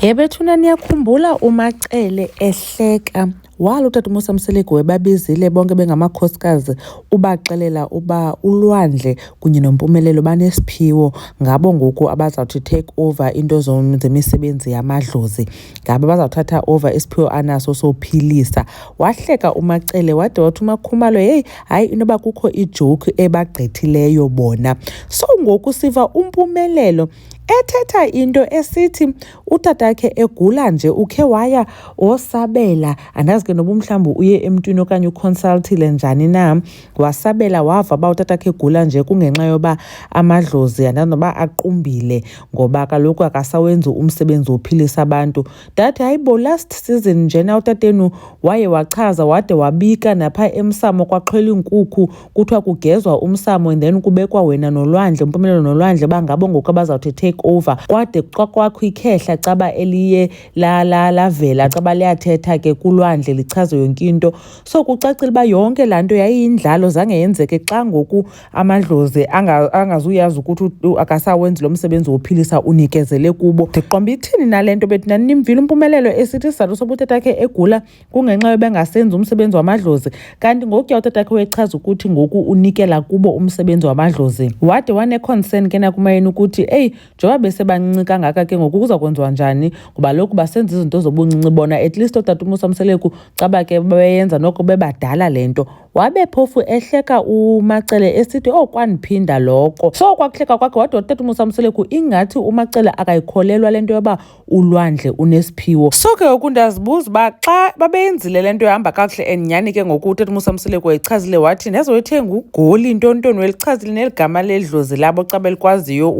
He bethuna niyakhumbula uMacele ehleka walo utata umusa mseleku webabizile bonke bengamakhosikazi ubaxelela uba ulwandle kunye nompumelelo banesiphiwo ngabo ngoku abazawuthi take over into zemisebenzi yamadlozi ngabo bazawuthatha over isiphiwo anaso sophilisa wahleka umacele wade wathi umakhumalo heyi hayi inoba kukho ijoki ebagqithileyo bona so ngoku siva umpumelelo ethetha into esithi utatakhe egula nje ukhe waya wosabela andazi ke noba umhlawumbi uye emntwini okanye uconsultile njani na wasabela wava uba utatakhe egula nje kungenxa yoba amadlozi andazi noba aqumbile ngoba kaloku akasawenzi umsebenzi wophilisa abantu that hayibo last season njena utatenu waye wachaza wade wabika napha emsamo kwaxhwela iinkukhu kuthiwa kugezwa umsamo and then kubekwa wena nolwandle umpumelelo nolwandle bangabo ngoku abazawuthi take over kwade kwakwakho ikhehla caba eliye lavela caba liyathetha ke kulwandle lichaze yonke into so kucacile uba yonke laa nto yayiyindlalo zange yenzeke xa ngoku amadlozi angazuyazi ukuthi akasawenzi lo msebenzi wophilisa unikezele kubo ndiqomba ithini nale nto bethi naninimvile umpumelelo esithi isizathu sobutetha khe egula kungenxa yobengasenzi umsebenzi wamadlozi kanti ngokuya utatakhe wechaza ukuthi ngoku unikela kubo umsebenzi wamadlozi wade waneconcern ke nakumayeni ukuthi eyi njengoba besebancinci kangaka ke ngoku kuza kwenziwa njani ngoba loku basenza izinto zobuncinci bona at least otata umusa mseleku caba ke beyenza noko bebadala le nto wabe phofu ehleka umacele esithi oh kwandiphinda loko so kwakuhleka kwakhe wade watata umusa mseleku ingathi umacele akayikholelwa le nto yoba ulwandle unesiphiwo so ke ngoku ndiyazibuza uba xa babeyenzile le nto ihamba kakuhle and nyhani ke ngoku utata umusa msileko eyichazile wathi nezoyithenga ugoli ntontoni welichazile neli gama ledlozi labo xa belikwaziyo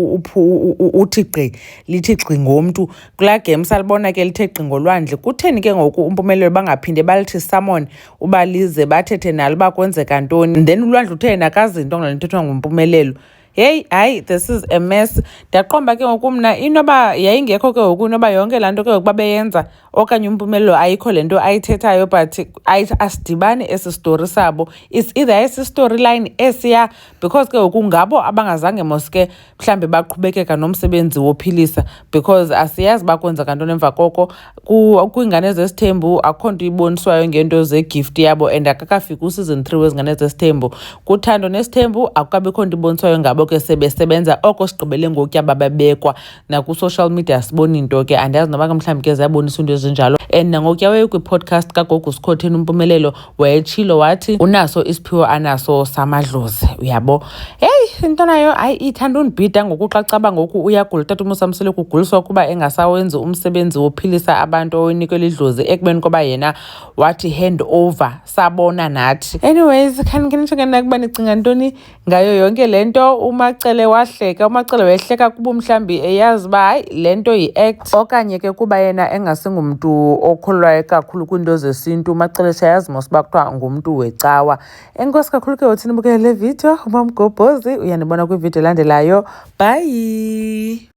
uthi gqi lithi gqi ngomntu kulaa game salibona ke lithe gqi ngolwandle kutheni ke ngoku umpumelelo bangaphinde balithi samon uba lize bathethe nalo uba kwenzeka ntoni then ulwandle utheni akazinto ngale nto kuthiwa ngumpumelelo heyi hayi this is a mess ndaqomba ke ngoku mna inoba yayingekho ke ngoku inoba yonke laa nto ke ngoku babeyenza okanye umpumelelo ayikho le nto ayithethayo but asidibani esi story sabo is either esi story line esiya because ke ngoku ngabo abangazange moske mhlawumbi baqhubekeka nomsebenzi wophilisa because asiyazi bakwenzeka nto nemva koko kwiingane zesithembu akho nto iboniswayo ngento zegift yabo and akakafiki useason three wezingane zesithembu kuthando nesithembu akukabikho nto iboniswayo ngabo ke sebesebenza oko sigqibele ngokutya bababekwa nakusocial media siboni nto ke andiyazi noba ke mhlawumbi ke ziyabonisa into ezinjalo and nangokutya weyekwi-podcast kagogo sikhotheni umpumelelo wayetshilo wathi unaso isiphiwo anaso samadlozi uyabo heyi into nayo hayi ithanda undibhida ngoku xa caba ngoku uyagula utata umusamsele kuguliswa ukuba engasawenzi umsebenzi wophilisa abantu owenikwe lidlozi ekubeni koba yena wathi hand over sabona nathi anyways khanikhenitsho ke nakuba nicinga ntoni ngayo yonke le nto umacele wahleka umacele wehleka kuba mhlawumbi eyazi uba hayi le nto yi-act okanye ke kuba yena engasingumntu okholwayo kakhulu kwiinto zesintu umacele shayazi mos uba kuthiwa ngumntu wecawa enkosi kakhulu ke uthini bukele le video umamgobhozi uyandibona kwividiyo elandelayo bhayi